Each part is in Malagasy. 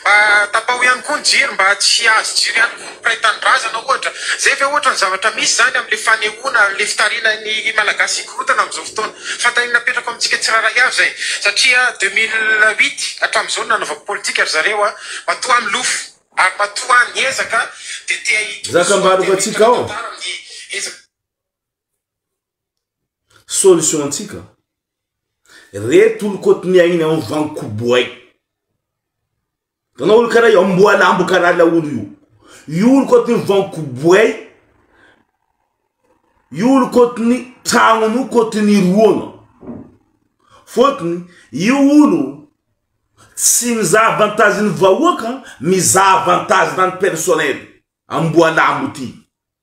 Mba tapaho ihany koa ny jiro mba tsy hahazo jiro ihany koa ny mpiray tanindrazana ohatra. Izay ve ohatra no zavatra misy izany amin'ilay fanehoana an'ilay fitariana ny Malagasy hikorontana amin'izao fotoana. Fanontaniana apetrako amintsika tsirairay avy izay. Satria deux mille huit hatramin'izao no nanaovako politika ry zareo a! Matoa milofo. Ary matoa ny ezaka dia te hahitona soa dia miitantantara amin'ny ezaka. Solution antsika re tolokot ny ainy en van koboay. Tanao olo kara io amboalambo kara laolo io. Io olo kot ny van koboay io olo kot ny tragnony io kot ny roagna. Fotony io olo tsy mizaha avantage ny vahoaka mizaha avantage ny any personnel amboalambo ty.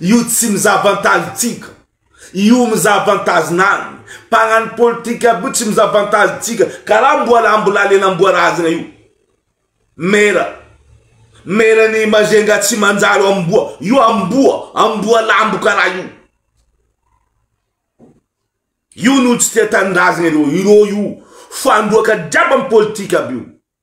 Io tsy mizavantazy tsika Io mizavantazy nany mpagnano politika aby io tsy mizavantazy tsika karaha mbola mbola lenamboarazagna io Mera Mera ny Majunga tsy manjary amboa io amboa amboa lambo karaha io Io no tsy tia tanindrazagna ireo ireo io fandroaka jiaby am politika aby io.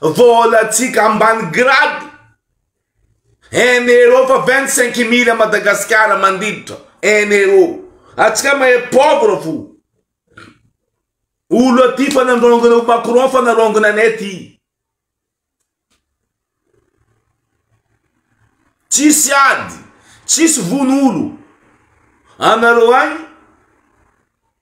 Voalantsika ambany grade. Un euro fa vingt cinq mille à Madagascar mandiditra un euro. Atsika mahay pauvre fo. Olo aty fa nandrongona ho Macron fa narongona anay aty. Tsisy ady, tsisy vono olo. Anareo agny.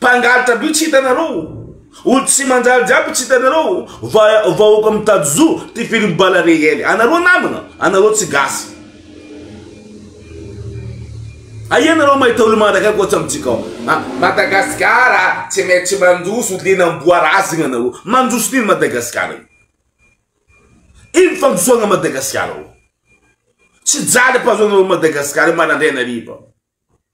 Mpangalatra by tsy hitanareo? Olo tsy manjaly jiaby tsy hitanareo? Vahoaka mitady zo ty film bala reel. Anareo namana? Anareo tsy gasy. Aia nareo mahita olo manaraka ahy koatsa amintsika ao? Madagasikara tsy maintsy mandroso liana amboarazigna nareo. Mandroso n'ino Madagasikara io? Ino fandrosoagna Madagasikara ao? Tsy jaly am-pahazoanareo Madagasikara io marandraigna hariva.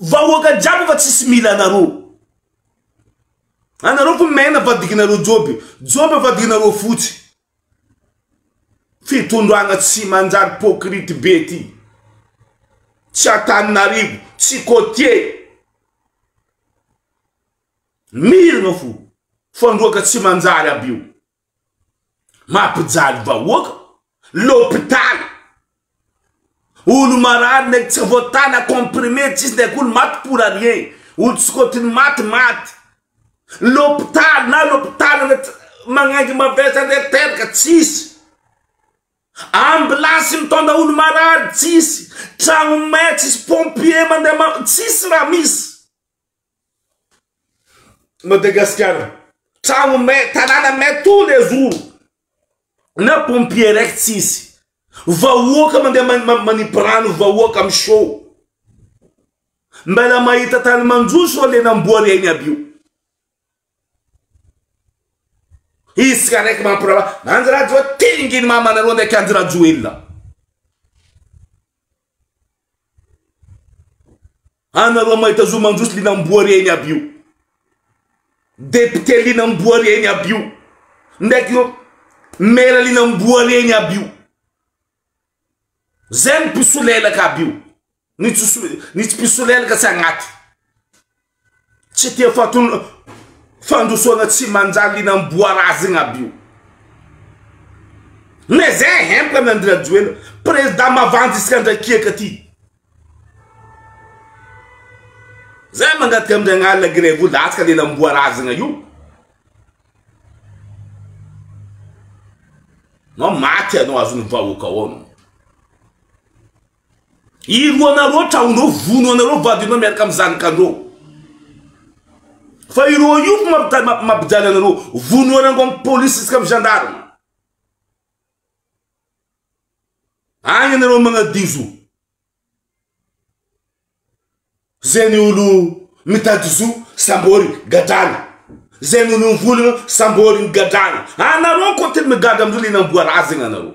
Vahoaka jiaby fa tsisy mila anareo. Anareo ko main avadikinareo joby. Joby avadikinareo fotsy. Fitondrana tsy manjary pocrite be ty. Tsy Antananarivo, tsy cotier. Mirina fo. Fandroaka tsy manjary aby io. Mampijaly vahoaka, lopitany, olo marary ndraiky tsy voatana, comprimé tsisy ndraiky olo maty pour rien, olo sokotiny maty maty, lopitaly na lopitaly magnengy mavesa ndraiky teraka tsisy, ambulance mitondra olo marary tsisy, tragno may tsisy, pompier mandeha tsisy raha misy. Madagasikara, trano may, tanàna may tous les jours na pompier araiky tsisy, vahoaka mandeha manipy rano, vahoaka miseho, mbela mahita tany manjoso ireo lenam-boary ainy aby io. Isika araiky mampirava, Andry Rajoelina, tinginy mamanareo ndraiky Andry Rajoelina. Anareo mahita zo mandroso linam-boary eny aby io. Député linam-boary eny aby io. Ndraiky ireo maire linam-boary eny aby io. Zay ny mpisolelaka aby io. Ny tsy mpisolelaka tsy agnaty. Tsy tia faton fandrosoana tsy manjary iny amboarazy iny aby io. Mais zay hempany Andry Rajoelina, président mavandy isika ndray kiaka ty. Zay mangataka amin'i Ragnahary grevy latsaka lela amboarazagna io. Nao maty anao azon'ny vahoaka ao anao. Iro anareo traonareo vono anareo vadinareo miaraka am zanakareo fa iro io mampijaly anareo vono anareo am police sy am gendarme agny anareo magnadizo zay ny olo mitady zo sambory gadrana zay ny olo mivolagna sambory gadrana anareo koa tena migadra amzao le namboara azy zay ny anareo.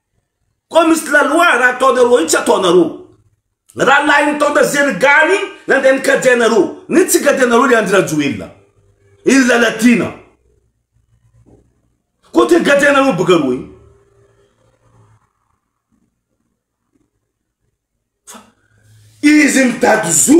Koa misy laloha raha ataonareo io tsy ataonareo. Raha lahin'ny tonta zeny gany iny nandeha nikajy anareo. Ny tsy nikajy anareo le Andry Rajoelina. Iny Lalatiana. Koa te nikajy anareo boka reo iny. Fa izy mitady zo.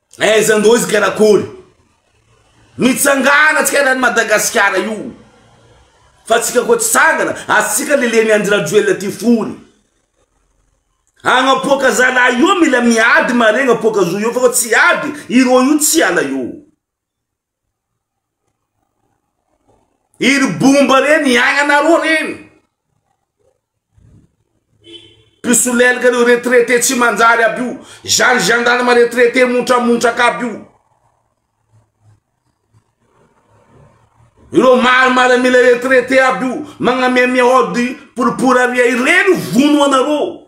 Aiza ndroy izy karakory mitsangana tsika rany Madagasikara io fa tsika koa tsy tsangana atsika leleny Andry Rajoelina ty fony agnapoaka zalahy io mila miady maregna apoaka zo io fa koa tsy ady ireo io tsy hiala eo. Iny bomba reny iainanareo reny. Mpisolelika reo retraité tsy manjary aby io. Izany gendarme retraité montramontraka aby io. Ireo maro maramila retraité aby io. Magnamiamia ody poripory aria ireny vono anareo.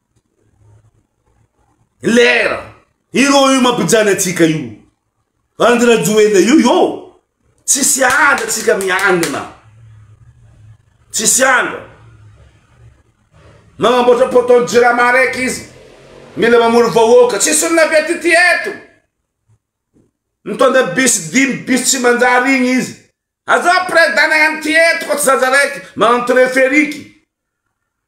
Lera! Iro io mampijany atsika io. Bandy Rajoelina io io. Tsisy andra tsika mianina. Tsisy andra. Manamboatra poton jirama araiky izy. Mila mamory vahoaka. Tsisy olona vety ity eto. Mitondra bis dimy bis tsy manjary igny izy. Aza president ihany ty eto fa tsy zaza raiky manano treferiky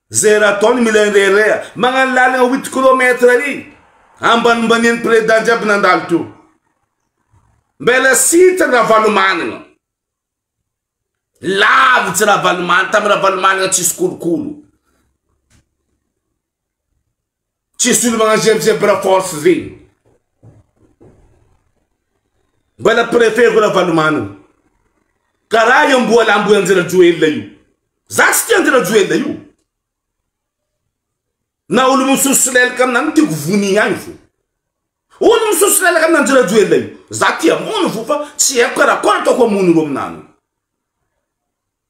zay raha ataony mila indraindray magnano lalagna huit kilomètre ary ambanimbaniany president jiaby nandalo teo mbela site ny ravalomanana lavitsy ravalomanana tamy ravalomanana tsisy kolokolo Tsy solomagnano zay amizay bra force zay. Mbala préfet-ko Ravalomanana. Karaha i Amboalambo Andry Rajoelina io. Za tsy tia Andry Rajoelina io. Na olo misosolelaka aminany tiako vonia ihany fo. Olo misosolelaka amin' Andry Rajoelina io. Za tia mono fo fa tsy haiko karakory ataoko hamono ro aminany.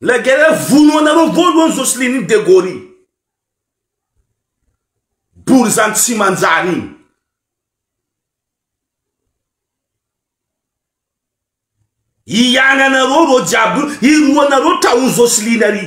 La guerre hoe vono anareo voalohany Jocelyne iny Degaule iny. Borizano tsy manjary iny. Hiagnanareo reo jiaby io, hiroanareo tra ho Jocelyne ary.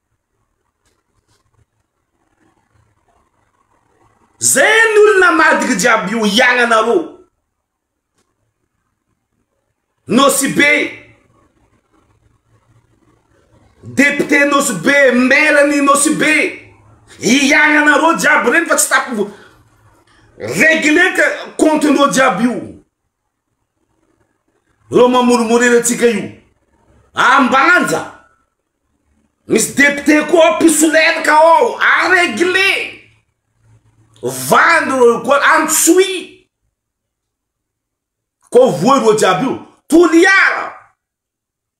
Zay ny olona madika jiaby io iagnanareo Nosy Be Député Nosy Be Maire ny Nosy Be iagnanareo jiaby regny fa tsy tapy regler ka compte ndreo jiaby io. Reo mamorimorery antsika io. Ambanja. Misy député koa ao mpisolelaka ao. A régler. Vandy reo koa antsoy. Koa voa ireo jiaby io. Toliara.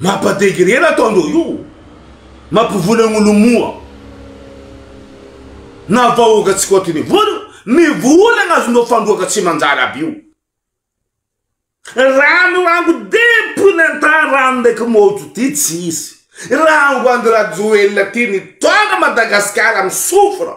Mapa degré la ataondreo io mampivola ny olo moa na vahoaka tsy kotiny vola ny vola azondreo fandroaka tsy manjary aby io rano rango depony antany rano ndraiky mojo ty tsy hisy rango andry rajoelina ty nitondra madagasikara amy sofra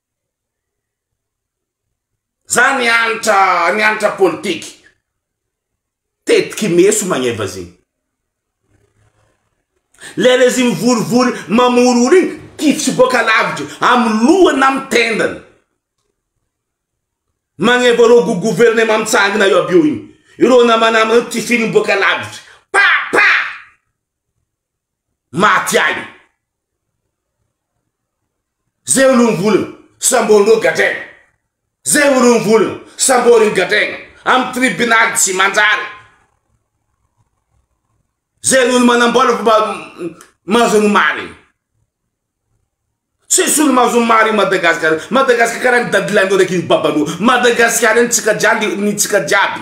Za niantra niantra politique tetiky meso magneva zegny. Le rezy mivorivory mamorory igny kifitsy boaka lavitry amy lohany na amy tendany. Magneva reo go gouvernement mitsangana eo aby eo igny. Ireo namanama reo tifiriny boaka lavitry pa pa maty agny. Zay o lom volona sambo no gadraina Zay o lom volona sambo no gadraina Am tribunal tsy manjary Zay olo manambola fomba mahazo ny marigny Tsisy olo mahazo ny marigny Madagasikara Madagasikara karaha ny dadilahinao raiky iny babanao Madagasikara iny tsika jiaby ny tsika jiaby.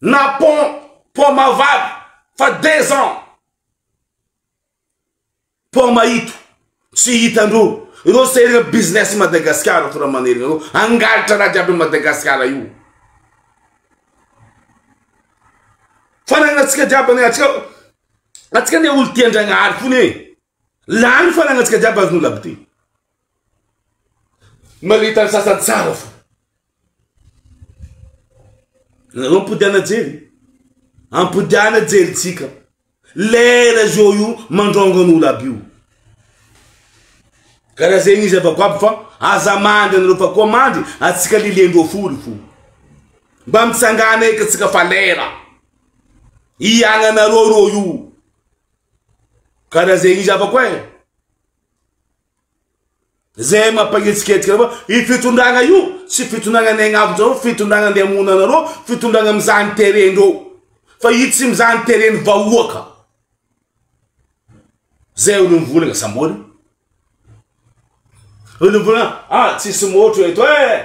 Na pont paoma vavy fa deux ans paoma ito tsy hitandro ireo sehirana business Madagascar ato raha manerina ireo hangalatra raha jiaby Madagascar io fananana antsika jiaby antsika antsika anie olo tia Andragnahary fona e Lany fananantsika jiaby azo nolabdy. Malita ny sasany tsara fa. Nareo ampodiana jery. Ampodiana jery tsika. Lera zao io mandrongony olab io. Karaha zegny izy avako aby fa aza mandry anareo fa koa mandry atsika lilendro fory fo. Mba mitsangana eky tsika fa lera. Iagnanareo reo io. Ka raha zay izy hafa koa e. Zay mampagnetsiketsika anareo. I fitondrana io tsy fitondrana ny agnavonjareo, fitondrana andeha hamono anareo, fitondrana mizaha ny terrain-dreo. Fa i tsy mizaha ny terrain-ny vahoaka. Zay olo mivolagna sambory. Olombola, ah tsisy motro eto eh!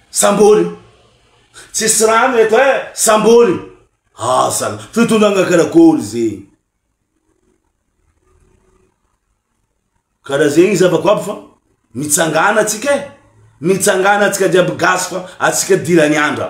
Sambory! Tsisy rano eto eh! Sambory! Ah sala, fitondrana karakory zegny? Karaha zegny zava-ko aby fa mitsangana atsika eh! Mitsangana atsika jiaby gasy fa atsika dirany andra.